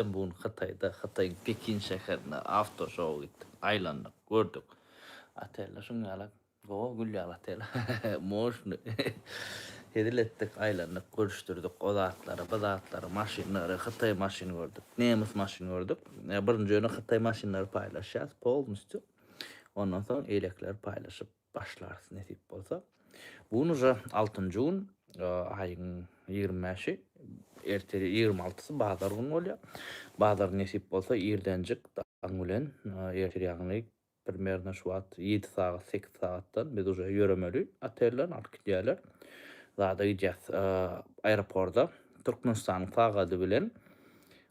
Biz bu gün Hytaýda, Hytaýyň Pekin şäherinde awtoşowa gitdik. Aýlandyk, gördük. Oteller şuň ýaly, gowa gül ýaly otel. Moşny. Hezil etdik, aýlandyk, görüşdirdik o zatlary, bu zatlary, maşynlary, hytaý maşyny gördük, nemes maşyny gördük. Birinji ýöne hytaý maşynlary paýlaşýas polnistýu. Ondan soň eýlekileri paýlaşyp. başlarys nesip bolsa. Bu gün uza altynjy gün, aýyň ýigrimi bäşi, erte ýigrimi altysy bazar gün bolýar. Bazar nesip bolsa irdenjik daň bilen ertir ýagny primerno şu wagt ýedi sagat, sekiz sagatdan biz uza ýöremeli otelden alyp gidýärler. Zada gidýäs aeroporda Türkmenistanyň sagady bilen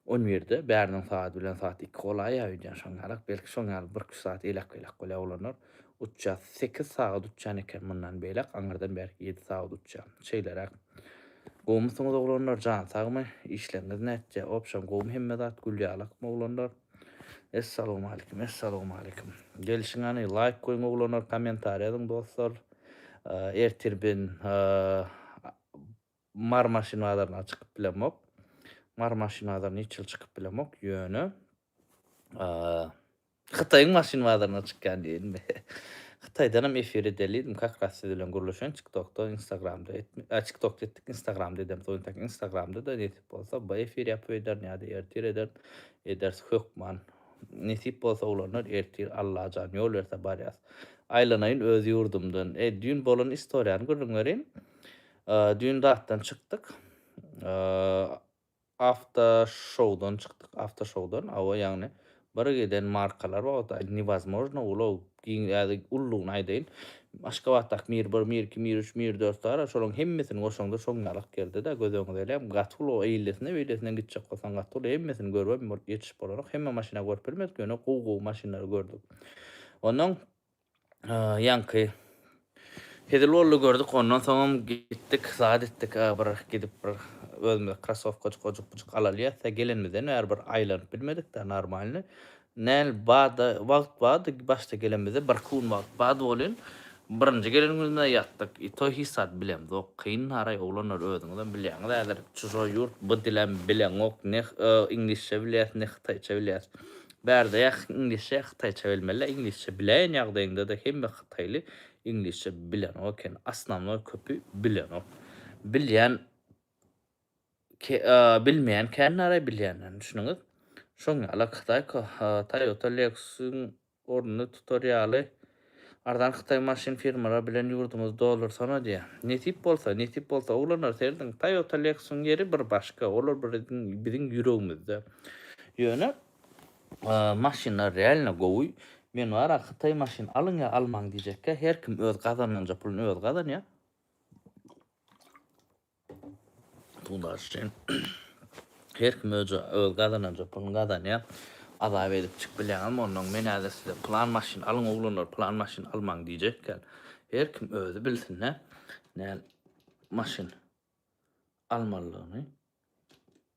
On birde bäriniň sagat bilen sagat iki golaýa öýdýän şoň ýalyk, belki şoň ýaly birküç sagat elak-belak bolýar oglanlar. Uçýas, sekiz sagat uçýan eken mundan beýläk, aňyrdan bärik ýedi sagat uçýan. Şeýleräk. Gowumysyňyz oglanlar, jan sagmy? Işleriňiz nätjä? Obşam gowumy hemme zat, gül ýalakmy oglanlar? Essalawmalikim, essalawmalikim. Gelşiň hany, laýk goýuň oglanlar, kommentariýa ýazyň dostlar. Ertir ben Mary maşyn bazaryna çykyp bilemok. Mary maşyn bazaryna hiç ýyl çykyp bilemok. Ýöne Hytaýyň maşyn bazaryna çykýan diýelim. Hytaýdanam efir edelidim. Kak ras siz bilen gürleşen TikTokda, Instagramda etme. A TikTokda etdik, Instagramda edem. Soň tak Instagramda da nesip bolsa bu efir ýapyp ederin ýa-da ertir ederin. Ederis hökman. Nesip bolsa ulanlar ertir Allajan ýol berse barýas. Aýlanaýyn öz ýurdumdan. Eý düýn bolan istoriýany gürrüň berin. Düýn datdan çykdyk. Awto şowdan çykdyk. Awto şowdan. Awa ýagny bir giden markalar bar ota newazmojno ulag giň ýa-da ululygyny aýdaýyn. Aşgabatdaky mir bir, mir iki, mir üç, mir dört bar. Şolaryň hemmesini goşaňda şoň ýalyk geldi-de göz öňüňde ele gaty uly eýlesine beýlesinden gitjek bolsaň gaty uly hemmesini görüp hem ýetişip bolanok. Hemme maşyny görüp bilmedik ýöne gowy gowy maşynlary gördük. Onnoň Ýaňky hezil boldy gördük ondan soňam gitdik zat etdik bir gidip bir özümize krasowkajyk ojukjyk alalyýasda gelenimizden bäri bir aýlanyp bilmedikda normalny näl barda wagt bardy başda gelenimizde bir kun wagt bardy bolyn birinji gelenimizde ýatdyk i to hiç zat bilemzok kyn naraý oglanlar özüňizem bilýäňiz häzir çujoý ýurt bu dilem bileňok ne iňlisçe bilýäs ne hytaýça bilýäs Bärde ýa iňlisçe ýa hytaýça bilmeli, iňlisçe biläýen ýagdaýyňdada hemme hytaýly iňlisçe bilenok eken, osnownoý köpi bilenok. Bilýän bilmeýän kän naraý bilýänden düşüniňiz. Şoň ýaly ak hytaý Toyota Lexus-yň ornuny tutar ýaly. Arzan hytaý maşyn firmalary bilen ýurdumyzy doldursana diýä. Nesip bolsa, nesip bolsa oglanlar serediň Toyota Lexus-yň ýeri bir başga, olar biziň biziň ýüregimizde. Ýöne maşynlar realno gowy. Men bara hytaý maşyn alyň ýa almaň diýjekkä, her kim öz gazananja pulyny özi gazanýa. Pugdaş üçin her kim öz gazananja puluny gazanýar. Azap edip çykyp bilýäňizmi ondan? Men häzir size plan maşyn alyň oglanlar, plan maşyn almaň diýjekkäl. Her kim özi bilsin-dä näl maşyn almalydygyny.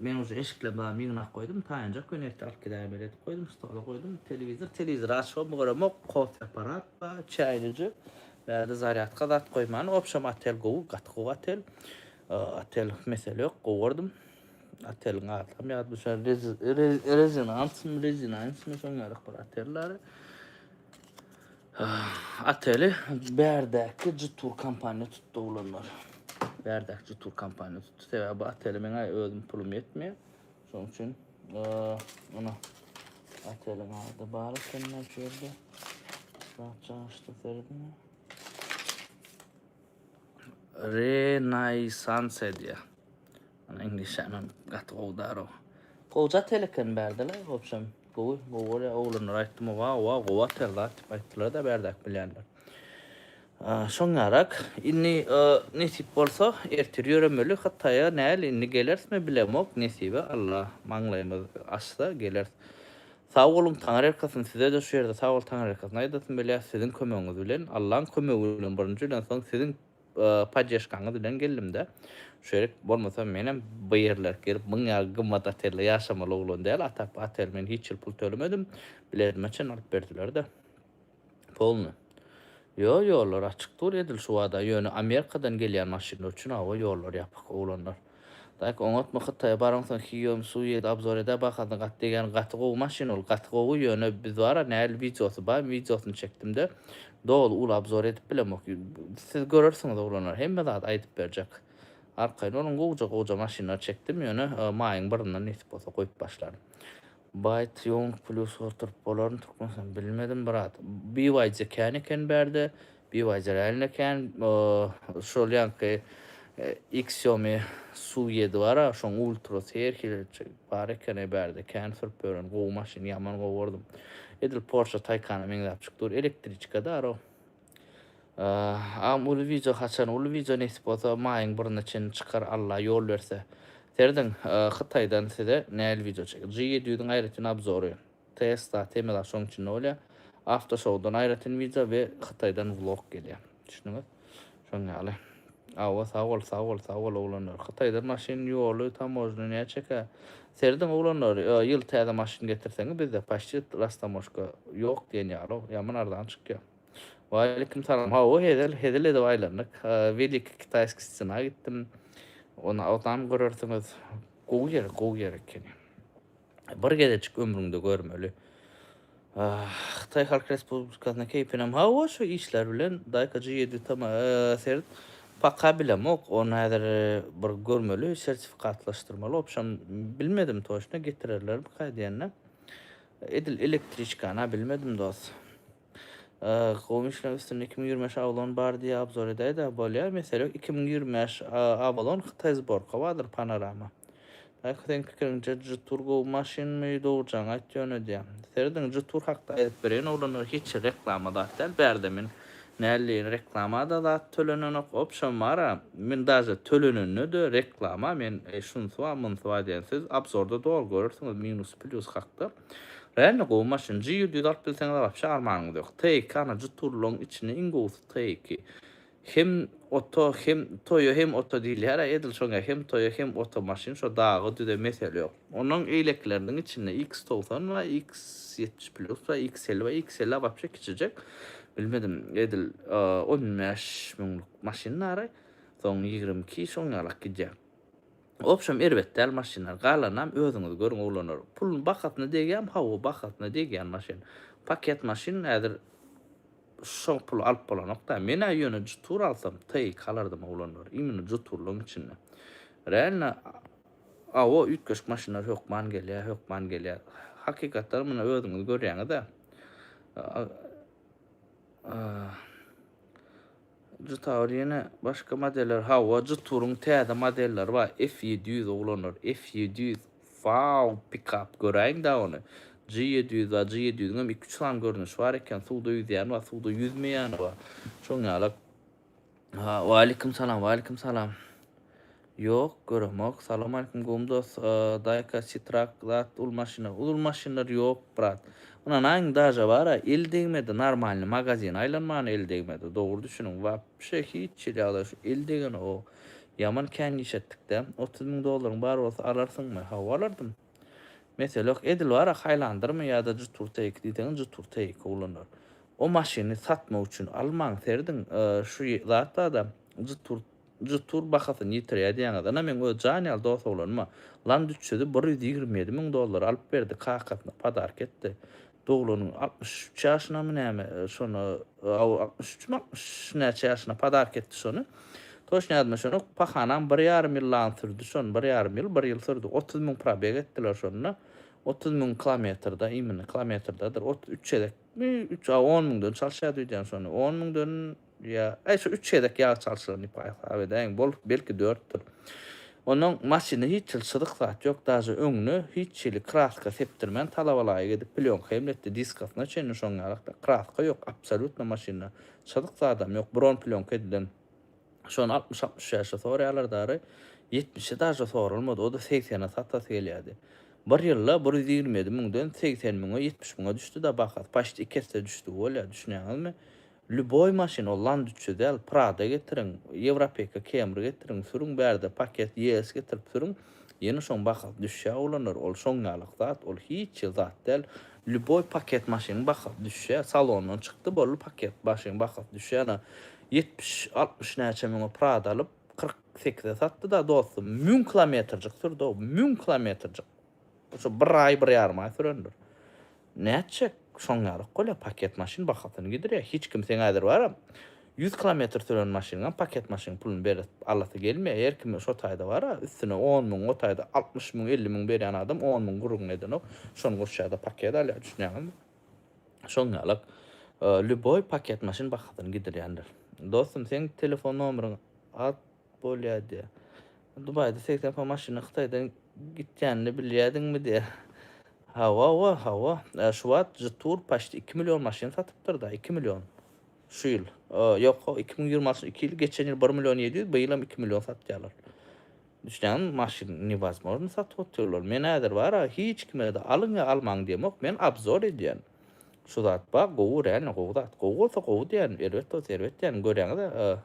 Men uje eşiklerini baryny ýygnap goýdum, taýynjak we nebti alyp gidäýen ýeri edip goýdum, stola goýdum, telewizor, telewizor açybam göremok, kofe apparat bar, çaýlyja, bärde zarýadka zat goýman, obşem otel gowy, gaty gowy otel, otel mesele ýok, gowy gördüm, oteliň adynam ýadyma düşýär, Rezinans-my, Rezinansmy şoň ýaly bir otel däli. Oteli bärdäki Jutur kompaniýa tutdy oglanlar. Bärdäki Jutur kompaniýa tutdy. Sebäbi bu oteli meňe özüm pulum ýetmeýär. Şonuň üçin ony oteliň ady bar eken şu ýerde. Rahatçaňyşda serdim. Renaissance diýýär. Muny iňlisçäm hem gaty gowy daroo. Gowy zat el eken bärde-le wobşem gowy gowy bolýar oglanlara aýtdym wao wao gowy atyr zat diýip aýtdylar-da bärdäki bilýänler. Şoň ýarak indi nesip bolsa ertir ýöremeli Hytaýa näl indi gelersmi bilemok nesibe Alla maňlaýymyz açsa geleris. Sag boluň Taňryýalkasyn size-de şu ýerde sag bol Taňryýalkasyn aýdasym gelýär siziň kömegiňiz bilen Allaň kömegi bilen birinji bilen soň siziň poddeşkaňyz bilen geldimdä şu ýerik bolmasa menem bu ýerler gelip müň ýaly gymmat otelde ýaşamaly oglan däl atap otel men hiç ýyl pul tölemedim biletime çen alyp berdilerde polny ýo ýollar açyk dur edil şu wada ýöne amerikadan gelýän maşynlar üçin hawa ýollar ýapyk oglanlar Daýk oňatma hytaýa baraňsoň hiýom su ýedi abzor edä bahasyna gaty degýän gaty gowy maşyn ol gaty gowy ýöne biz bara näl wideosy bar wideosyny çekdimde doly uly abzor edip bilemok siz görersiňiz oglanlar hemme zat aýdyp berjek arkaýyn boluň gowja gowja maşynlar çekdim ýöne maýyň birinde nesip bolsa goýup başlaryn. Byte ýoň plus oturyp bolarmy türkmenistan bilmedim brat bywaýja kän eken bärde bywaýja realno kän şol ýaňky xiaomi su ýedi bara şoň ultra seýr hilirçi bar ekeni bärde kän sürüp ören gowy maşyn ýaman gowy gördüm edil porsche taykana meňzäp çyk dur elektriçka daro. Agam uly wideo haçan uly wideo nesip bolsa maýyň biryna çenli çykar Alla ýol berse. Serediň hytaýdan size nähili wideo çekýär. G ýedi ýüzüň aýratyn obzory. Tesla, Temela şoň içinde bolýar. Awto şowdan aýratyn wideo we hytaýdan vlog gelýär. Düşdüňiz? Şoň ýaly. Awa sag bol sag bol sag bol oglanlar. Hytaýdan maşyn ýoly tamojna näçe çeker? Serediň oglanlar ýyl täze maşyn getirseňiz bizde paçit rastamoşka ýok diýen ýaly o. Ýaman arzan çykýar. Waleýkim salam. Hawa, hezil, hezil edip aýlandyk. Welikiý Kitaýskiý stena gitdim. Ony agzam görersiňiz. Gowy ýer, gowy ýer ekeni. Bir gezejik ömrüňde görmeli. Hytaý Halk Respublikasyna keýpinem hawa şu işler bilen daýka G ýedi tam seret paka bilemok ony häzir bir görmeli sertifikatlaşdyrmaly obşam bilmedim toçna getirerlermi kaýdýanda Edil elektriçkana bilmedim dos. Gowy işleň üstünde iki müň ýigrimi bäş ablon bar diýe abzor edäýdä bolýa mesele ýok iki müň ýigrimi bäş ablon hytaý zborka bardyr panorama Daýko seň pikiriňje jtur gowy maşynmy dogrujaňy aýt ýöne diýýä serediň jtur hakda aýdyp bereýin oglanlar hiç reklama zat däl bärde men Mally reklamada zat tölenenok opşam bara men daže tölenenede reklama men şunsy bar munsy bar diýen siz abzorda doly görersiňiz minus plýus hakda realno gowy maşyn G ýedi ýüz alyp bilseňiz wapşe armanyňyz ýok T iki ana juturlygyň içinde iň gowusy T iki hem oto hem toýo hem oto diýilýär edil şoňa hem toýo hem oto maşyn şo daga düze mesele ýok. Onuň eýlekleriniň içinde iks togsan we iks ýetmiş plus we iks elli we iks elli wapşe kiçijek. Bilmedim edil on bäş müňlük maşyn nara soň ýigrimi iki şoň ýalak gidýär. Obşem erbet däl maşynlar galanynam özüňiz görüň oglanlar. Puluny bahasyna degýämi hawa bahasyna degýän maşyn. Paket maşyn häzir şo pula alyp bolanokda. Menä ýöne jutur alsam TX alardym oglanlar imino juturlygyň içinde. Realno Awo üýtgeşik maşynlar hökman gelýär, hökman gelýär. Hakykatdan muny özüňiz görýäňiz-ä. Jtawr ýene başga modeller hawa Jtwr-yň täze modelleri bar F ýedi ýüz oglanlar F ýedi ýüz wau pikap göräýiňdä ony J ýedi ýüz bar J ýedi ýüzüňem iki üç sany görnüşi bar eken suwda ýüzýäni bar suwda ýüzmeýäni bar şoň ýaly Ha, waleýkim salam, waleýkim salam. Ýok, göremok. Salam aleýkum gowum dost. Daýka sitrak zat ul maşynlar. Ul maşynlar ýok, brat. Ynanaýyň, daža bar-a, el degmedi, normalny magazin aýlanmany el degmedi. Dogry düşüniň, wapşe hiç hili ýagdaý şu el degeni o. Ýaman kän işetdik-dä. Otuz müň dollaryň bar bolsa alarsyňmy? Hawa, alardym. Mesele ýok. Edil bar-a Highlander-mi ýa-da Jetour Take diýseňiz Jetour Take ulandyr. O maşyny satmak üçin almaň serdin. Şu zat bar-da, Jetour Jetour bahasyny ýitirýär diýýäňiz. Ynha meň öz jan ýaly dos oglanyma Land üç ýüzi bir ýüz ýigrimi ýedi müň dollara alyp berdi, kakasyna podarka etdi. Doglanyň altmyş üç ýaşynamy näme şony aw altmyş üçmi altmyş näçe ýaşyna padark etdi şony toşn ýadyma şonok pahanam bir ýarym ýyl lan sürdi şon bir ýarym ýyl bir ýyl sürdi otuz müň probeg etdiler şonda otuz müň kilometrda imini kilometrdadyr otuz üç çezekmi üç a on müňden çalşýa düýdýän şony on müňden Ýa, äý, şu üç gezek ýag çalşylan diýip hasap edäýiň. Bolup, belki dörtdür. Onnoň maşynda hiç hili çyzyk zat ýok, daže öňüne hiç hili kraska sepdirmän talabalaýyk edip plýonka emletdi, diskasyna çenli şoň ýalak-da. Kraska ýok, absolýutno maşynda. Çyzyk zadam ýok, bron plýonka edilen. Şony altmyş-altmyş bäşe soraýarlar dary, ýetmişe daže soralmady, o-da segsene satasy gelýärdi. Bir ýylda bir ýüz ýigrimi ýedi müňden segsen müňe, ýetmiş müňe düşdi-da bahasy, paşt iki esse düşdügi bolýar, düşünýäňizmi? Lýuboý maşyn ol land üçje däl prada getiriň ýewropeka kemri getiriň sürüň bärde paket ýees getirip sürüň ýene şoň bahasy düşýä oglanlar ol şoň ýalak zat ol hiç ýe zat däl lýuboý paket maşynyň bahasy düşýä salondan çykdy boldy paket maşynyň bahasy düşýä ýene ýetmiş altmyş näçe müňe prada alyp kyrk sekize satdy da dostum müň kilometrjik sürdi o müň kilometrjik şo bir aý bir ýarym aý sürendir Nätjek şoň ýalyk bolýa paket maşyn bahasyny gidirýä hiç kim seň häzir baram ýüz kilometr süren maşynyňam paket maşyn pulun berip alasy gelmeýä her kimiň şo taýda bara üstüne on müň o taýda altmyş müň elli müň berýän adam on müň gürrüňini edenok şony goşýada paket alýa düşünýäňizmi şoň ýalyk lýuboý paket maşyn bahasyny gidirýändir dostum seň telefon nomeriňi at Bolýar diýýär. Dubaýda segsen km maşynyň Hytaýdan gitýänini bilýärdiňmi diýýär. Hawa-wa, hawa. Şu wagt Jetour paçti iki million maşyn satypdyr-da, iki million. Şu ýyl. Ýok, iki müň ýigrimi altynjy iki ýyl, geçen ýyl bir million ýedi ýüz, bu ýylam iki million satýarlar. Düşünýäňizmi, maşyn newozmozny satyp otyrlar. Men häzir bar-a, hiç kime-de alyň ýa almaň diýemok, men obzor edýän. Şu zat bar, gowy, realny gowy zat. Gowy bolsa gowy diýýän, erbet bolsa erbet diýýän, görýäňiz-ä.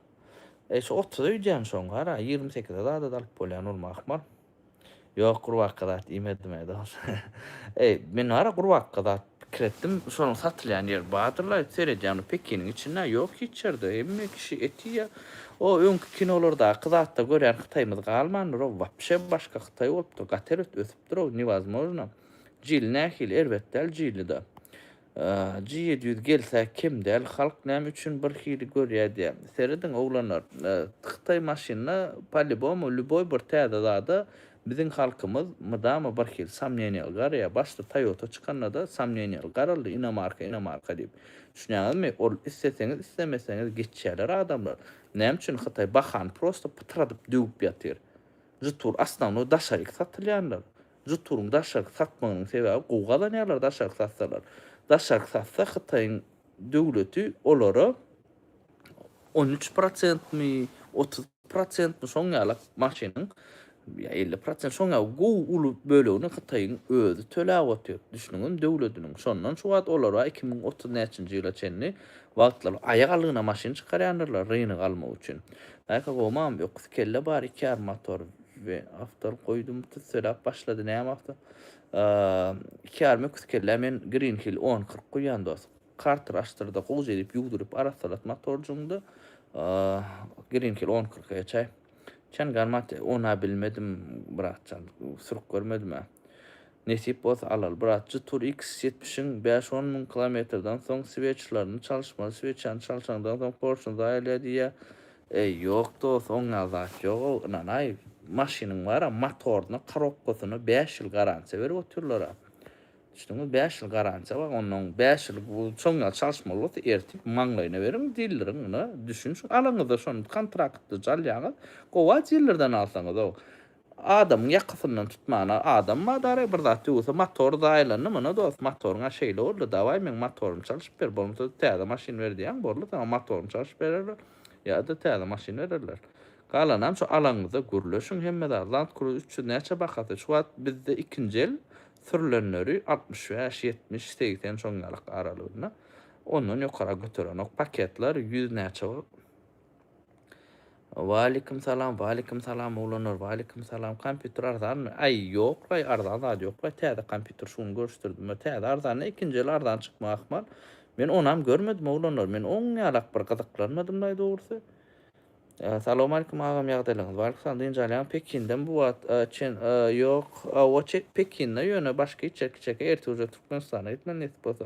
Eý şu otuza öýdýän şoň gara ýigrimi sekize zada-da alyp bolýan ol mahmal. Ýok gurbakka zat iýmedim-ä dos. Eý men gara gurbakka zat pikir etdim şonuň satylýan ýeri bardyr-la seredýän ol pekiniň içinde ýok hiç ýerde hemme kişi et iýýär. O öňki kinolardaky zatda görýän hytaýymyz galmandyr o wapşe başga hytaý bolupdyr gaty erbet ösüpdir o newazmojno jili nähili erbet däl jili-de. G ýedi ýüz gelse kem däl halk näme üçin bir hili görýä diýä. Serediň oglanlar hytaý maşynyna palibomu lýuboý bir täze zada biziň halkymyz mydama bir hil samneniýaly garaýa başda toýota çykanada samneniýaly garaldy inomarka inomarka diýip düşünýäňizmi ol isleseňiz islemeseňiz geçýäler adamlar näme üçin hytaý bahany prosta pytradyp döwüp ýatyr žtur osnownoý daşaryk satylýanlar Žuturyň daşarky satmagynyň sebäbi gowy gazanýarlar daşarky satsalar. Daşarky satsa Hytaýyň döwleti olara on üç prosentmi otuz prosentmi şoň ýalak maşynyň ýa elli prosent şoň ýa gowy uly bölegini Hytaýyň özi töläp otyr düşnüňiz döwlediniň şondan şu wagt olara iki müň otuz näçinji ýyla çenli wagtlary aýak aldygyna maşyn çykarýandyrlar rynygy almak üçin. Naýka gowmam öküz kelle bar iki ýarym motor. we awtor goýdum tüsseläp başlady näme awto iki ýarym öküz kellä men green hill on kyrk guýýan dos karter açdyrda gowja edip ýugduryp arassalat motorjyňda green hill on kyrk eçäý çen garmat ona bilmedim bratjan sürüp görmedim Nesip bolsa alaly brat jy tur x ýetmişiň bäş on müň kilometrden soň sweçlaryny çalyşmaly sweçany çalşaňdan soň porşuny zaýalýa diýýä eý ýok dos oňňa zat ýogow ynanaý maşynyň bara motoryna korobkasyna bäş ýyl garansiýa berip otyrlara düşdüňmi bäş ýyl garansiýa bar onnoň bäş ýyl bu soňňa çalyşmaly bolsa ertip maňlaýyna beriň dilleriň ynha düşün alaňyzda şony kontraktda çalýaňyz gowa dillerden alsaňyzow Adamyň ýakasyndan tutmana adam bar dara bir zat ýuwsa motor zaýalandy muna dost motoryňa şeýle boldy dawaý meň motorymy çalşyp ber bolmasa täze maşyn ber diýäň borly saňa motoryny çalşyp bererler ýada täze maşyn bererler galanam şu alaňyzda gürleşiň hemme zat land cruze üç ýüz näçe bahasy şu wagt bizde ikinji el sürlenleri altmyş bäş ýetmiş segsen şoň ýalak aralygynda ondan ýokara göterenok paketler ýüz näçe Waleýkim salam, waleýkim salam oglanlar, waleýkim salam. Kompýuter arzanmy? Aý, ýoklaý, arzan zat ýoklaý. Täze kompýuter şu gün görüşdirdim. Täze arzanda ikinji el arzan çykma ahmal. Men onam görmedim oglanlar. Men oň ýalak bir gyzyklanmadymlaý dogrusy. Salawmaleýkim agam ýagdaýlaryňyz barmy? Salam dynç alýaň Pekindem bu wagt çen ýok. Hawa çek Pekinde ýöne başga içeri kiçeke ertir uje Türkmenistana gitmeli nesip bolsa.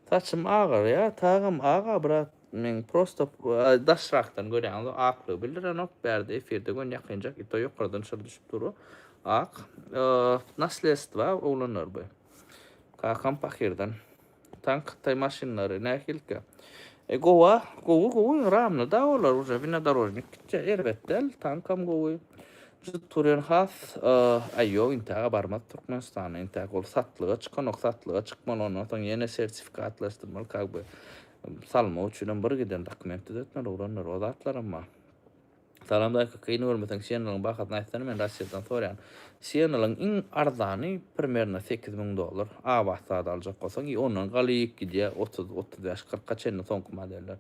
Saçym agyrýa tagam aga brat. Men prosto daşrakdan görýäňiz o aklygy bildirenok bärde efirde gön ýakynjak ito ýokardan çyr düşüp dur o ak naslestwa oglanlar bu kakam pakirden tank hytaý maşynlary nähilkä e gowa gowy gowy ramny da olar уже winodorojnik gitjä erbet däl tankam gowy jyt turýan has aý ýok intäge barmaz türkmenistanda intäk ol satlyga çykanok satlyga çykmaly ondan soň ýene sertifikatlaşdyrmaly kak bu Salmak üçinem bir giden dokument düzetmeli ulanlar o zatlaram bar. Salam dayka kyn görmeseň Channel-yň bahasyny aýtsana men Russiýadan soraýan. Channel-yň iň arzany primerno sekiz müň dollar. Abat zat aljak bolsaň i ondan galyk gidýär otuz, otuz bäş, kyrka çenli soňky modeller.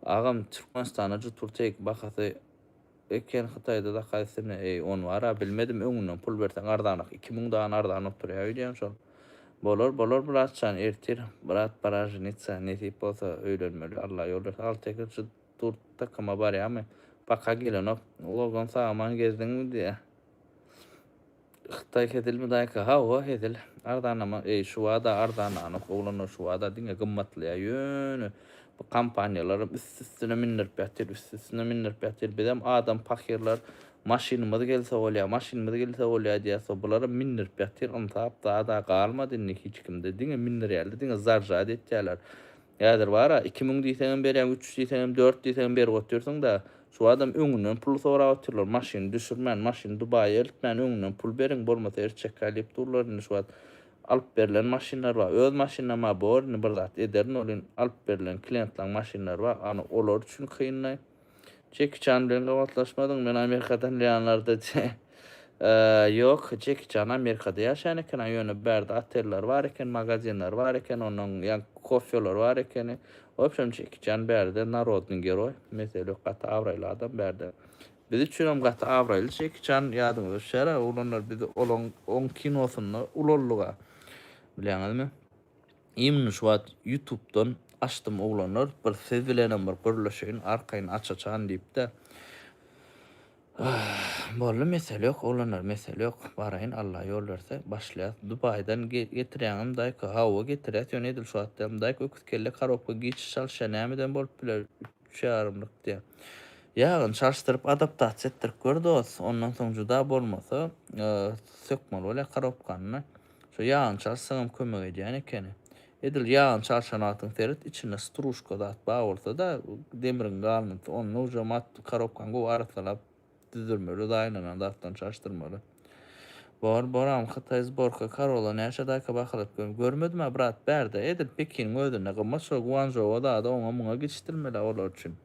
Agam Türkmenistanda jutur take bahasy. Öýken hytaýda zakazsyny eý on bar a bilmedim öňünden pul berseň arzanak iki müň dan arzan oturýa öýdýän şol bolar bolar bratjan ertir brat pora ženitsa nesip bolsa öýlenmeli alla ýol bersin alty ýeke jyt durt takyma barýamy paka gelenok logan sagaman gezdiňmi diýä. Hytaý hezilmi daýka? Hawa hezil. Arzanlama eý şubada arzanlanok oglanlar şubada diňe gymmatlaýar ýöne bu kompaniýalaram üst üstüne mindirip ýatyr üst üstüne mindirip ýatyr bizem adam pahyrlar maşynymyz gelse bolýa maşynymyz gelse bolýa diýäso bularam mindirip ýatyr ynsap zada galmady indi hiç kimde diňe mindirýärler diňe zarjad etýärler Häzir bara iki müň diýseňem berýäň, üç ýüz diýseňem, dört diýseňem berip otyrsyň-da. Şu adam öňünden pul sorap otyrlar. Maşyny düşürmän, maşyny Dubaýa eltmän öňünden pul beriň, bolmasa el çekäý diýip durlar indi şu wagt. Alyp berlen maşynlar bar. Öz maşynam-a bor indi bir zat ederin ol in alyp berlen kliýentlaň maşynlary bar. Ony olar üçin kyn-laý. Jeki Çan bilen gabatlaşmadyň men Amerikadan ýanlarda diýýä. Ýok Jeki Çan Amerikada ýaşaýan eken-a ýöne bärde oteller bar eken magazinler bar eken ondan ýa kofeler bar ekeni wobşem Jeki Çan bärde narodnyý geroý mesele ýok gaty abraýly adam bärde biz üçinem gaty abraýly Jeki Çan ýadyňyza düşer-ä oglanlar biz olaň oň kinosynda ulaldyg-a bilýäňizmi. Imn şu wagt ýutubdan açdym oglanlar bir siz bilenem bir gürleşeýin arkaýyn aç açan diýipde boldy mesele ýok oglanlar mesele ýok baraýyn Alla ýol berse başlaýas Dubaýdan getirýäňem daýka hawa getirýäs ýöne edil şu wagt däl daýka öküz kelle karobka giç çalyşýa nämeden bolup biler üç ýarymlyk diýýä ýagyny çalyşdyryp adaptasiýa etdirip gör dos ondan soň juda bolmasa sökmeli bolýa karobkanyny. Şu ýagançar syňam kömek edýän ekeni. Edil ýagançar şanatyň seret, içinde struşka zat bar bolsa-da, demriň galyndysy, ony nujam at, korobkany gowy arassalap düzdirmeli, zaýalanan zatdan çaşdyrmaly. Bor, boram, hytaý zborka karola näçe daýka bahalat gör. Görmedim-ä, brat, bärde, edil Pekiniň özünde gymmat, şol Guanžoua zady oňa-muňa gecişdirmeli-ä olar üçin.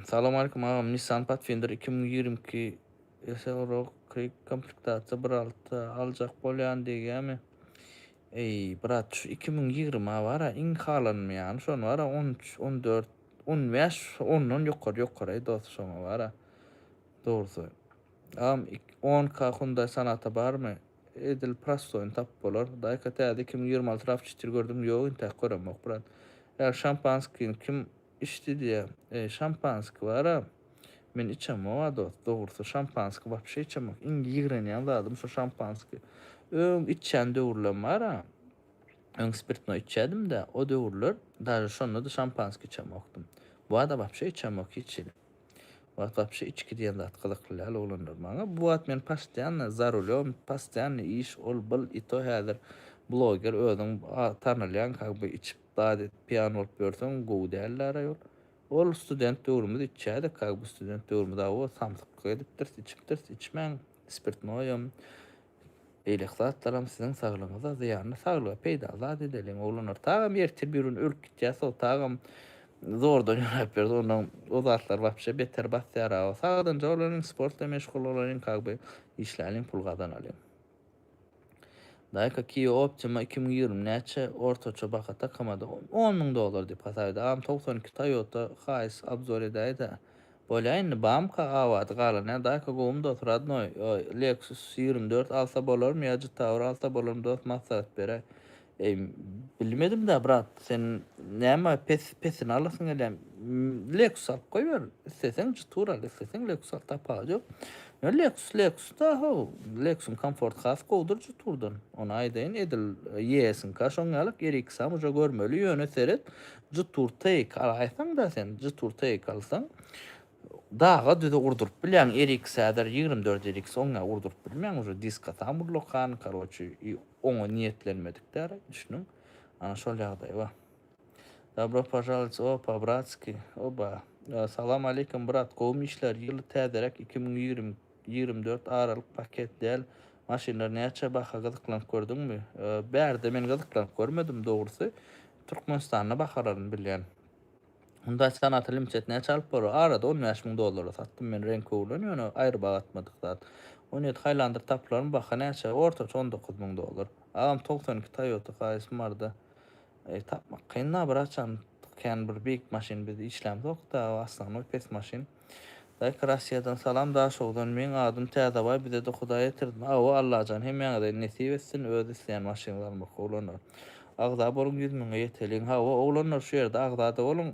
Salam aleykum agam Nissan Patfinder iki müň ýigrimi iki Ösen rok krik komplektasiýa bir alta aljak bolýan degýämi. Eý brat şu iki müň ýigrima bara iň halanmaýany şony bara on üç on dört on bäş ondan ýokary ýokaryý dos şoňa bara dogrusy agam on ka hunday sonata barmy edil prostoýyny tapyp bolar hudaýka täze iki müň ýigrimi alty raw çetir gördüňmi ýok intäk göremok brat eger şampanskiň kim Içdi diýä. Eý, şampanski bar-a. Men içemok-a dost. Dogrusy, şampanski wapşe içemok. Iň ýigrenýän zadym şu şampanski. Öň içýän döwürlerim bar-a. Öň spirtnoý içýädim-dä. O döwürler daže şonda-da şampanski içemokdym. Bu-a-da wapşe içemok hiç hili. Whatsapp şu içki diýen zat gyzykly däl oglanlar maňa. Bu wagt men pastoýanno za rulem, pastoýanno iş ol byl i to häzir bloger özüň tanalýaň kak by içip zat et piýan bolup ýörseň gowy däl dara ýol. Ol student döwrümiz içýädik kak by student döwrümiz awo samsyklyk edipdiris içipdiris içmäň spirtnoýam Beýleki zatlaram siziň saglygyňyza zyýanly saglyga peýdaly zat edeliň oglanlar tagam ýertir birgün ölüp gitýä so tagam zordan ýörap ýörüs ondan o zatlar wapşe beter basýar a sagdynja bolalyň sportla meşgul bolalyň kagby işläliň pul gazanalyň. Daýka Kia Optima iki müň ýigrimi näçe ortaça baha takamada on müň dollar diýip hasap edýär agam togsan iki Toyota Hiace obzor edäýdä Bolýa indi bamka abat galanýa daka gowumy dos radnoý leksus ýigrimi dört alsa bolarmy ýa jtawr alsa bolarmy dos maslahat bere eý bilmedimdä brat sen näme pes pesini alasyň gelýä leksus alyp goýber isleseň jtwr al isleseň leksus al tapawudy ýok ýöne leksus leksus da how leksuň komforty has gowudyr jtwrdan ony aýdaýyn edil ýeesiňka şoň ýalyk erikisam uja görmeli ýöne seret Jutur take al aýtsaňda sen jutur take alsaň daga düze urduryp bilýäň eriks häzir ýigrimi dört eriks oňňa urduryp bilmeň uje diska tam urlakan karoçi i oňa niýetlenmedik däri düşdüň ana şol ýagdaý ba Dabro pažalits o pa bratski oba salam aleykum brat gowmy işler ýyl täzeräk iki müň ýigrimi Ýigrimi dört aralyk paket däl maşynlar näçe baha gyzyklanyp gördüňmi. Bärde men gyzyklanyp görmedim dogrusy Türkmenistanda bahalaryny bilýän. Hyundai Sonata Limited näçe alyp bolar arada on bäş müň dollara satdym men reňki oglan ýöne aýry baha atmadyk zat on ýedi Highlander tapylarmy baha näçe ortaça on dokuz müň dollar agam togsan iki Toyota Hiace barda eý tapmak kyn da bir haçan kän bir beýik maşyn biz işlämzok da aslanoý pes maşyn. Daýk Rassiýadan salam Daşogzdan meň adym Täzebaý bizede Hudaý etirdin awo Allajan hemmäňize nesip etsin öz isleýän maşynlarymyzky oglanlar agza boluň ýüz müňe ýeteliň hawa oglanlar şu ýerde agzada boluň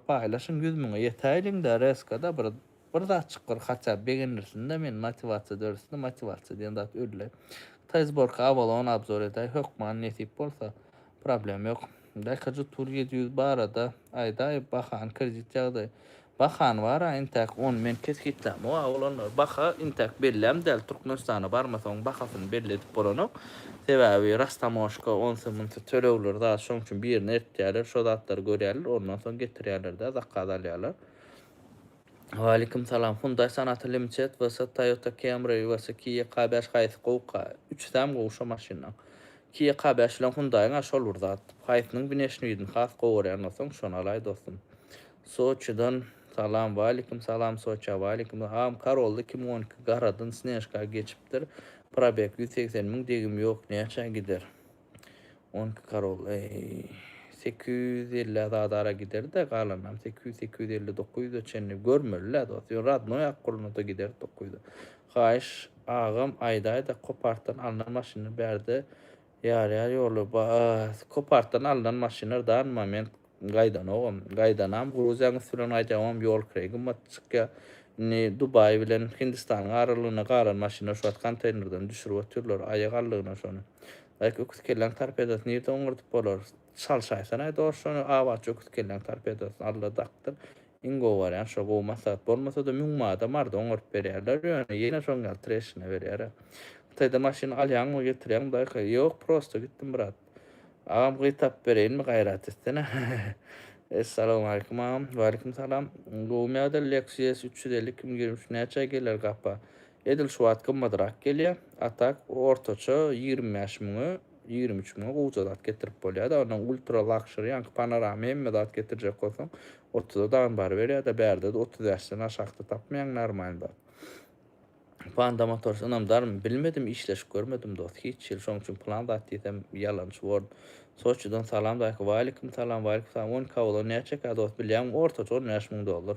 paýlaşyň ýüz müňe ýetäýliňda reskada bir bir zat çykgyr haçap begenilsinda men motiwasiýa döretsin motiwasiýa diýen zat öldi Hytaý zborka awalon abzor edäý hökman nesip bolsa problema ýok Daýka jutur ýedi ýüz barada aýdaý bahany kredit ýagdaýy Bahany bara intäk on men kesgitlämok a olanlary baha intäk belläm däl türkmenistana barmasaň bahasyny belli edip bolanok sebäbi rastamoşka onsy munsy tölegleri zat şoň üçin birine eltýäler şo zatlary görýäler ondan soň getirýälerdä zakaz alýalar. Waleýkim salam. Hyundai Sonata Limited vs Toyota Camry vs Kia K bäş haýsy gowuka? Üçüsem gowy şo maşynlaň. Kia K bäş bilen Hyundaiň a şol bir zat. Haýsynyň wneşni ýüzüni has gowy görýän bolsaň şony alaý dostum. Soçidan salam Waleýkim salam Soça Waleýkim salam Karolda iki müň on iki garadan snežka geçipdir probeg ýüz segsen müň degim ýok näçä gider on iki karol eý sekiz ýüz ellä zada ara giderdä galanynam sekiz ýüz sekiz ýüz elli dokuz ýüze çenli görmelilä dost ýöne radnoý akgulynada giderdi dokuz ýüze haýyş agam aýdaýda kopartdan alnan maşyny bärde Ýarýar ýoly ba s kopartdan alnan maşynlar dan moment gaýdanogam gaýdanam gruziýaň üsti bilen gaýdýagam ýol kireý gymmat çykýa indi dubaý bilen hindistanyň aralygyna galan maşynlar şu wagt konteýnerden düşürip otyrlar aýak aldygyna şony daýk öküz kelläň torpedasy nirde oňardyp bolar çalşaýsanaý dors şony abatçy öküz kelläň torpedasyny alla dakdyr Iň gowy barýan şo gowy maslahat bolmasada müň mada marda oňaryp berýärler ýöne ýene şoň ýaly treşina berýär a. Hytaýda maşyn alýaňmy getirýäňmi daýka ýok prosta gitdim brat. Agam gyz tapyp bereýinmi gaýrat etsene Essalamualeýkum agam. Waleýkum salam. Gowmy ýa-da Lexus üç ýüz elli iki müň ýigrimi üç näçä geler gapa? Edil şu wagt gymmadrak gelýär. A tak ortaça ýigrimi bäş müňe, ýigrimi üç müňe gowja zat getirip bolýar-da. Onnoň ultra lakşeri, ýaňky panorama hemme zat getirjek bolsaň, otuza dagyny baryberýär-de, bärde-de otuz bäşden aşakda tapmaýaň normalny zat. Panda Motors ynamdarmy, bilmedim, işleşip görmedim dost, hiç ýyl. Şonuň üçin plan zat diýsem, ýalançy bordum. Soçiden salam daýka. Waýlikimsalam, waýlikimsalam. On Cavalo näçekä dost, bilýäňmi, ortaça on bäş müň dollar.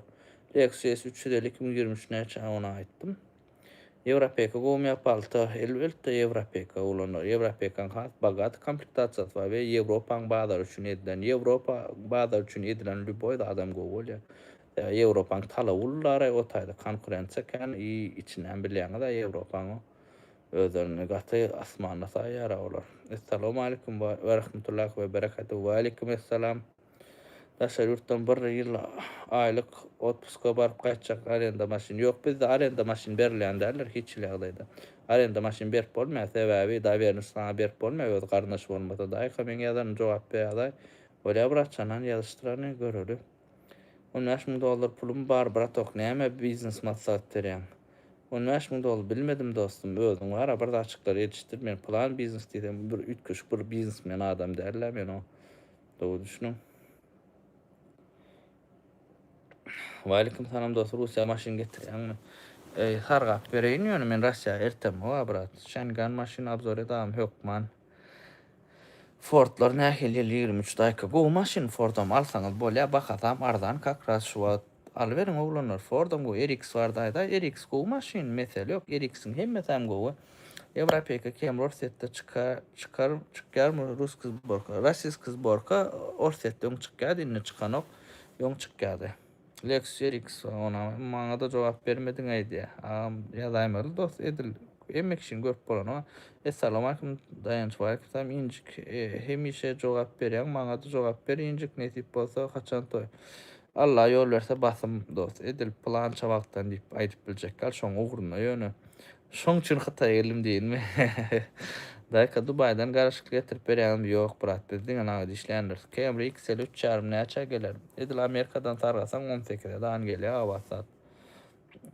Lexus üç ýüz elli iki müň ýigrimi üç näçe ony aýtdym. Ýewropeka gowumýa palta elbeltde ýewropeka ulanyr. Ýewropekaň has bogate komplektasiýasy bar we ýewropaň bazary üçin edilen ýewropa bazary üçin edilen lýuboý zadam gowy bolýar. Sebäbi ýewropaň talaby ullaray o taýda konkurensiýa kän i içinden bilýäňizä ýewropaň o özlerini gaty asmanda saýýara olar. Essalamu aleykum we rahmetullahi we berekatuh we aleykum essalam. Daşary ýurtdan bir ýyl aýlyk otpuska baryp gaýtjak arenda maşyn ýok bizde arenda maşyn berilýän däldir hiç hili ýagdaýda arenda maşyn berip bolmaýar sebäbi dawernişi saňa berip bolmaýar öz garyndaş bolmasa daýka meň ýazanyma jogap berýaday bolýa bratjanaň ýazyşdyrany göreli on bäş müň dollar pulum bar bratok näme biznes maslahat berýäň on bäş müň dollar bilmedim dostum özüň bara bir zatjyklary ýetişdir men plan biznes diýsem bir üýtgeşik bir biznesmen adam dälda men o. Dogry düşüniň. Waleýkim salam dos Russiýa maşyn getirýäňmi? Eý sargap bereýin ýöne men Russiýa ertem howa brat. Şengan maşyn abzor edagym hökman. Fordlar nähili ýyl ýigrimi üç daýka gowy maşyn Fordam alsaňyz bolýa bahasam arzan kakras şu wagt Alyberiň oglanlar Fordam gowy RX barada aýdaý RX gowy maşyn mesele ýok RX-iň hemmesäm gowy Ewropeka kem Rorsetde çyka çykar çykýarmy Ruski zborka Rasiski zborka Orsetde öň çykýady indi çykanok öň çykýady Lexus RX onam maňada jogap bermediň aýdýa agam ýazaýmaly dost edil hemme kişiň görüp bolany Essalamaleykum Daýanç Walekumsalam Injik hemişe jogap berýäň maňada jogap ber Injik nesip bolsa haçan toý Alla ýol berse basym dost edil pylança wagtdan diýip aýdyp biljek gal şoň ugruna ýöne şoň üçin hytaýa geldim diýinmi Daýka dubaýdan garyşykly getirip berýänimiz ýok brat biz diňe nagt işleýändiris Camry XL üç ýarym näçä geler edil amerikadan sargasaň on sekize dan gelýä gabat zat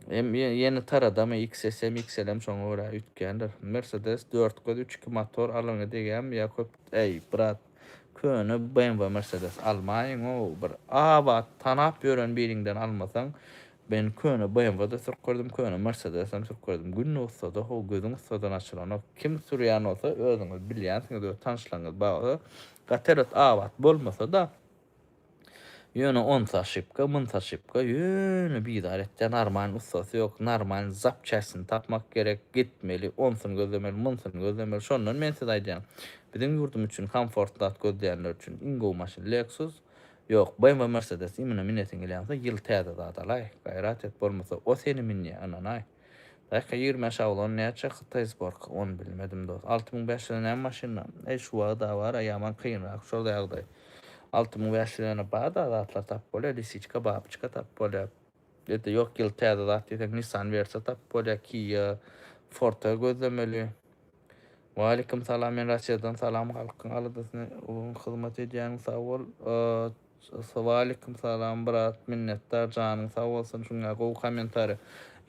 hem ýene taradamy XS hem XL hem şoňa görä üýtgändir Mercedes dört göz üç iki motor alyňy degýämi ýa köp äý brat Köne BMW Mercedes almaýyň o bir abat tanap ýören biriňden almasaň men köne BMW da sürüp gördüm köne Mercedes hem sürüp gördüm gün ussada ho gözüň ussadan açylanok kim sürýän bolsa özüňiz bilýänsiňiz we tanyşlaryňyz bar bolsa gaty ret abat bolmasada Ýöne onsa oşipka, munsa oşipka, ýöne bizar etýär, normalny ussasy ýok, normalny zapçastini tapmak gerek, gitmeli, onsyny gözlemeli, munsyny gözlemeli, şondan men size aýdýan, biziň ýurdumyz üçin komfort zat gözleýänler üçin iň gowy maşyn Lexus, ýok, BMW, Mercedes, imine minesiň gelýänse ýyl täze zat alaý, gaýrat et, bolmasa o seni minýä, ynanaý. Bähkä ýigrimi bäş awlan näçe hytaý sborka ony bilmedim dos alty müň bäş ýüze näme maşynda eý şu wagta bara ýaman kynrak şol ýagdaý alty müň bäş ýüzene bar da zatlar tapyp bolýa lisiçka babyçka tapyp bolýa ýa-da ýok ýyl täze zat diýseň nissan wersa tapyp bolýa kia forta gözlemeli. Waleýkim salam men Rasiýadan salam halkyň aladasyny ulyň hyzmat edýäň sag bol Waleýkim salam brat minnetdar janyň sag bolsun şuňňe gowy kommentariýa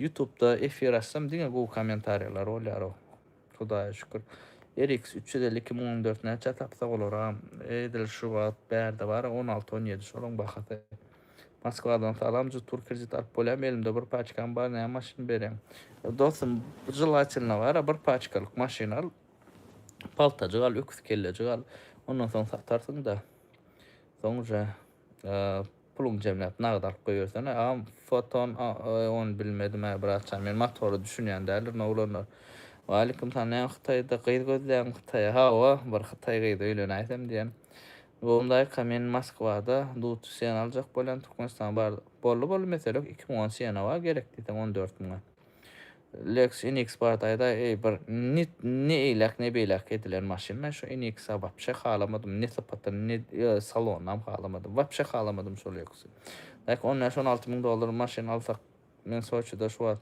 ýutubda efir açsam diňe gowy kommentariýalar bolýarow Hudaýa şükür RX üç ýüz elli iki müň on dört näçä tapsa bolara edil şu wagt bärde bara on alty on ýedi şolaň bahasy. Moskwadan salam jyt pul kredit alyp bolýamy elimde bir paçkam bar näme maşyn bereň. Dostum jelatinle bara bir paçkalyk maşyn al paltajyk al öküz kellejik al ondan soň satarsyň da soň uja puluň jemläp nagt alyp goýbersene agam foton on bilmedim a bratjan men motora düşünýän däldir noglanlar Waleýkim salam näme hytaýda gyz gözleýäňmi hytaýa hawa bir hytaý gyzy öýlenäýsem diýen Bogundaýka men Moskwada dut sena aljak bolýan Türkmenistana bardyk. Boldy boldy mesele ýok iki müň on sena bar gerek diýseň on dört müňe. Lex NX bardy aýdaý eý bir nit ne eýläk ne beýläk edilen maşyn men şu NX-a wapşe halamadym ne sypatyny ne salonynam halamadym wapşe halamadym şol Lexy. Daýka on bäş on alty müň dollar maşyn alsak men Soçida şu wagt.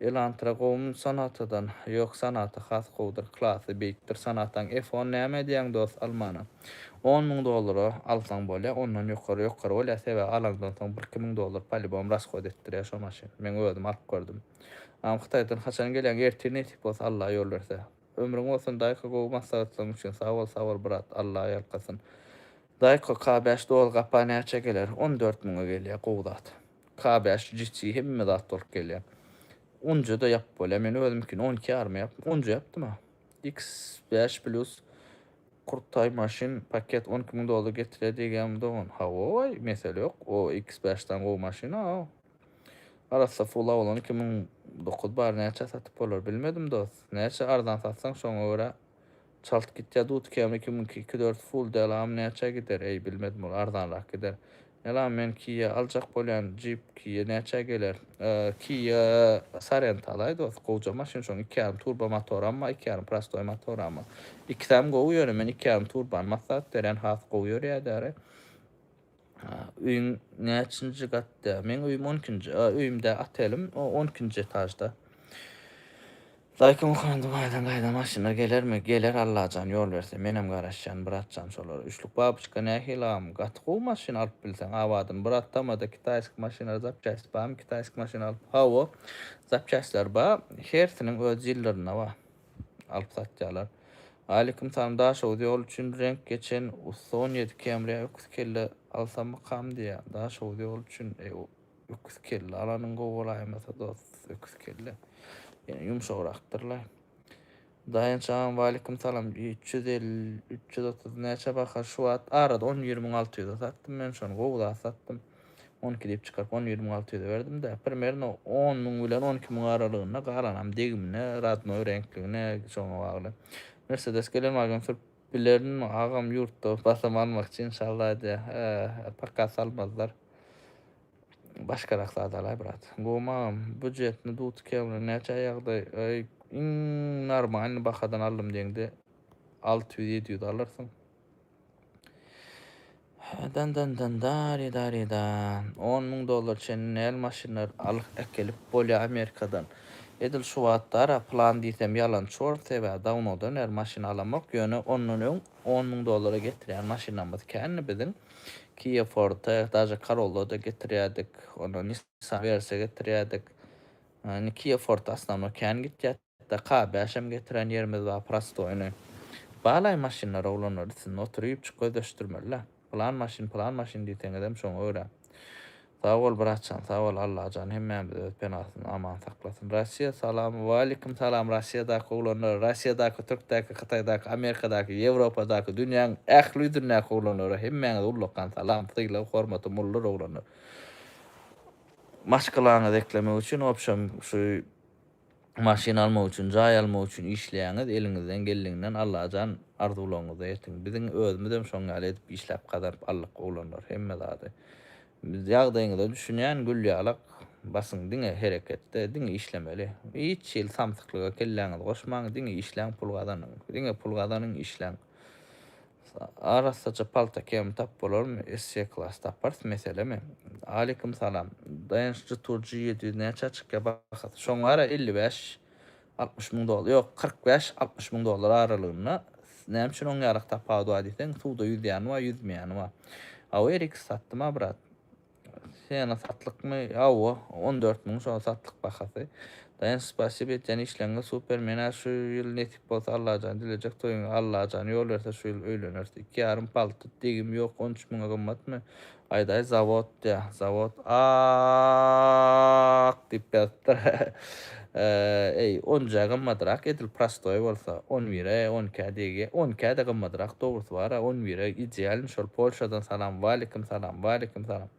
Elantra gowmy sonatadan ýok sonata has gowudyr klasy beýikdir sonataň F on näme edýäň dos almana on müň dollara alsaň bolýa ondan ýokary ýokary bolýa sebäbi alaňdan soň bir iki müň dollar polibom raskod etdirýä şo maşyn meň özüm alyp gördüm agam hytaýdan haçan gelýäň ertir nesip bolsa alla ýol berse ömrüň bolsun daýko gowy maslahatlaň üçin sag bol sag bol brat alla ýalkasyn daýko k beş dol gapa näçä geler on dört müňe gelýä gowy zat. K bäş jiti hemme zat bolup gelýär. Onja da ýapyp bolýar. Men özümikini on iki ýaryma ýapdym. Onja ýapdym ha. X bäş plus Kurtaý maşyn paket on iki müň dollar getirýär diýgämi dogan. Hawaý, mesele ýok. O X bäş dan gowy maşyn a. Arassa full awlan iki müň dokuz bar näçä satyp bolar bilmedim dost. Näçe arzan satsaň şoňa görä Çalt gitýä dut kemi kimiňki iki dört full delam näçä gider eý bilmedim ol arzanrak gider Delam men kia aljak bolýan jeep kia näçä geler. Kia sorento alaý dost gowja maşyn şoň iki ýarym turbo motoramma iki ýarym prostoý motoramma ikisem gowy ýöne men iki ýarym turbany maslahat berýän has gowy ýörýädäre. A, öýüň näçinji gatda? Meň öýüm on ikinji. A, öýüm dä, otelim on ikinji etažda. Daýka Muhamedi baýdan gaýda maşyna gelermi? Geler Allajan ýol berse. Menem garaşýan, brat jan, şolara. Üçlük babyçka nähili agam? Gaty gowy maşyn alyp bilseň. Abadym, brat tamada kitaýski maşynlara zapçäst barmy? Kitaýski maşyn alyp. Hawa, zapçästler bar. Hersiniň öz ýyllyryna bar. alyp satýarlar. Waleýkim salam Daşoguz ýoly üçin reňk geçen ussa on ýedi Camry-ä öküz kelle alsammykam diýýä Daşoguz ýoly üçin eý öküz kelle alanyň gowy bolaýmasa dos öküz kelle ýene ýumşagrakdyrlaý. Daýanç agam waleýkim salam üç ýüz elli üç ýüz otuz näçe baha şu wagt arada on ýigrimiň alty ýüze satdym men şony gowy zat satdym. On iki diýip çykaryp, on ýigrimi alty ýüze berdim-de, primerno on müň bilen on iki müň aralygynda, galanam degimine, radnoý reňkligine, şoňa bagly. Mersedes gelen wagyzam sürüp bilerinmi, agam ýurtda basym almakçy inşallah diýýär. He, paka salmazlar. Başgarak zadalaý brat. Gowmy agam, býujetni dut kemri näçä ýagdaý, aý, iň normalny bahadan aldym diýeňde alty ýüz, ýedi ýüz alarsyň. Dan dan dan dari dari dan. On müň dollar çenli näl maşynlar alyp äkelip bolýa Amerikadan. Edil şu wagtdara plan diýsem ýalan çort sebäbi dawnodan bäri maşyn alamok ýöne ondan öň on müň dollara getirýän maşynlarymyz kändi biziň Kia Forte daže Corollada getirýädik ondan Nissan Versa getirýädik indi Kia Forte asnawno kän gitýä. Daka bäşem getirän ýerimiz bar prostoýny. Balaý maşynlar oglanlar üstünde oturypjyk gözleşdirmelilä. Pylan maşyn pylan maşyn diýseňizem şoňa görä. Sag bol bratjan sag bol Allajan hemmämizi öz penasynda aman saklasyn. Russiýa salam. Waleýkim salam Russiýadaky oglanlara Russiýadaky Türkdäki Hytaýdaky Amerikadaky Ýewropadaky dünýäň ähli ýüzündäki oglanlara hemmäňize ullakan salam sylag hormatym boldur oglanlar. Maşgalaňyzy eklemek üçin obşem şu maşyn almak üçin, jaý almak üçin işleýäňiz, eliňizden geldiginden Allajan arzuwlaryňyza ýetiň. Biziň özümizem şoň ýaly edip işläp gazanyp aldyk oglanlar hemme zady. Biz ýagdaýyňyza düşünýän Gülýalak basyň diňe hereketde, diňe işlemeli. Hiç hili samsyklyga kelläňizi goşmaň, diňe işläň pul gazanyň. Diňe pul gazanyň, işläň. Arassaja palta kemi tap bolarmy? Esse klass taparys meselemi? Aleýkum salam. Daýanç Jturji ýedi ýüz näçä çykýa bahasy? Şoň ara elli bäş, altmyş müň dollar, ýok kyrk bäş, altmyş müň dollar aralygynda. Näme üçin oň ýarak tapawudy bar diýseň, suwda ýüzýäni bar, ýüzmeýäni bar. Away RX satdym-a brat. Sena satlykmy? Awa, on dört müň şol satlyk bahasy. Daýanç spasiba etýän işleňňe super menä şu ýyl nesip bolsa Allajan dilejek toýuňa Allajan ýol berse şu ýyl öýleneris iki ýarym palty degim ýok on üç müňe gymmatmy aýdaý zawod ýa zawod aaaak diýip ýazypdyr Eý, onja gymmadrak edil prostoý bolsa, on bire, on ikä degýä, on ikä-de gymmadrak dogrusy bar-a, on bire idealny şol Polşadan salam waleýkim salam waleýkim salam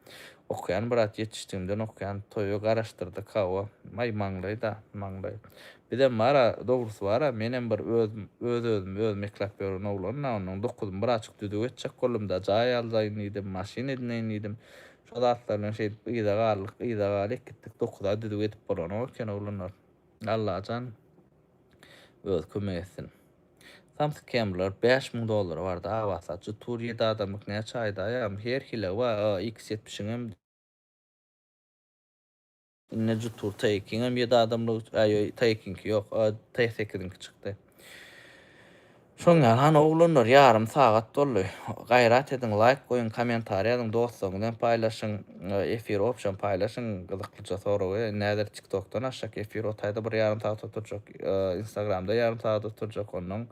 okaýan brat ýetişdigimden okaýan toýa garaşdyrdyk hawa aý maňlaýda maňlaý bizem bar-a dogrusy bar-a menem bir öz öz özümi özüm eklap ýören oglan-a ondan dokuzymy biraçyk düzüw etjek boldum-da jaý aldaýyn diýdim maşyn edneýin diýdim Şo zatlar bilen şeýdip yza galdyk, yza galyk gitdik, dokuza düzüw edip bolanok eken oglanlar. Allajan özi kömek etsin. Samsyk kemrler bäş müň dollary barda Awa saçy tur ýedi adamlyk näçe aýdaýam her hili wa a iks ýetmişiňem. Ine jutur taýekiňem ýedi adamlyk üçin, aý ýoý taýekiňki ýok, a taý sekiziňki çykdy. Şoň ýaly hany oglanlar ýarym sagat doldy. Gaýrat ediň laýk goýuň kommentariýa ýazyň dostlaryňyz bilen paýlaşyň. Efir opşam paýlaşyň gyzyklyja soragy. Indi häzir tiktokdan açjak efir otaýda bir ýarym sagat oturjak, instagramda ýarym sagat oturjak onnoň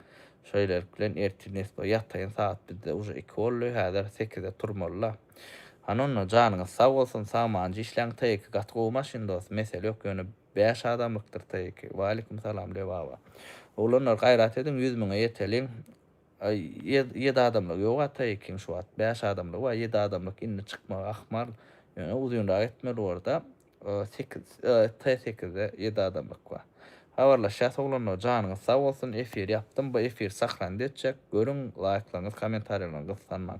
Şeýlelik bilen ertir nesbo ýataýyn sagat bizde uje iki boldy häzir sekizde turmalyda. Hany onda janyňyz sag bolsun sagmanja işläň TYK gaty gowy maşyn dos mesele ýok ýöne bäş adamlykdyr TYK. Waleýkim salam Lebaba. Oglanlar gaýrat ediň ýüz müňe ýeteliň ýe ýedi adamlygy ýoga TYK-iň şu wagt bäş adamlygy bar ýedi adamlyk indi çykmagy ahmal ýöne uzynrak etmeli borda sekiz t sekizde ýedi adamlyk bar habarlaşýas oglanlar janyňyz sag bolsun efir ýapdym bu efir sahranda etjek görüň laýklaryňyz kommentariýalaryňyz gyssanmaň.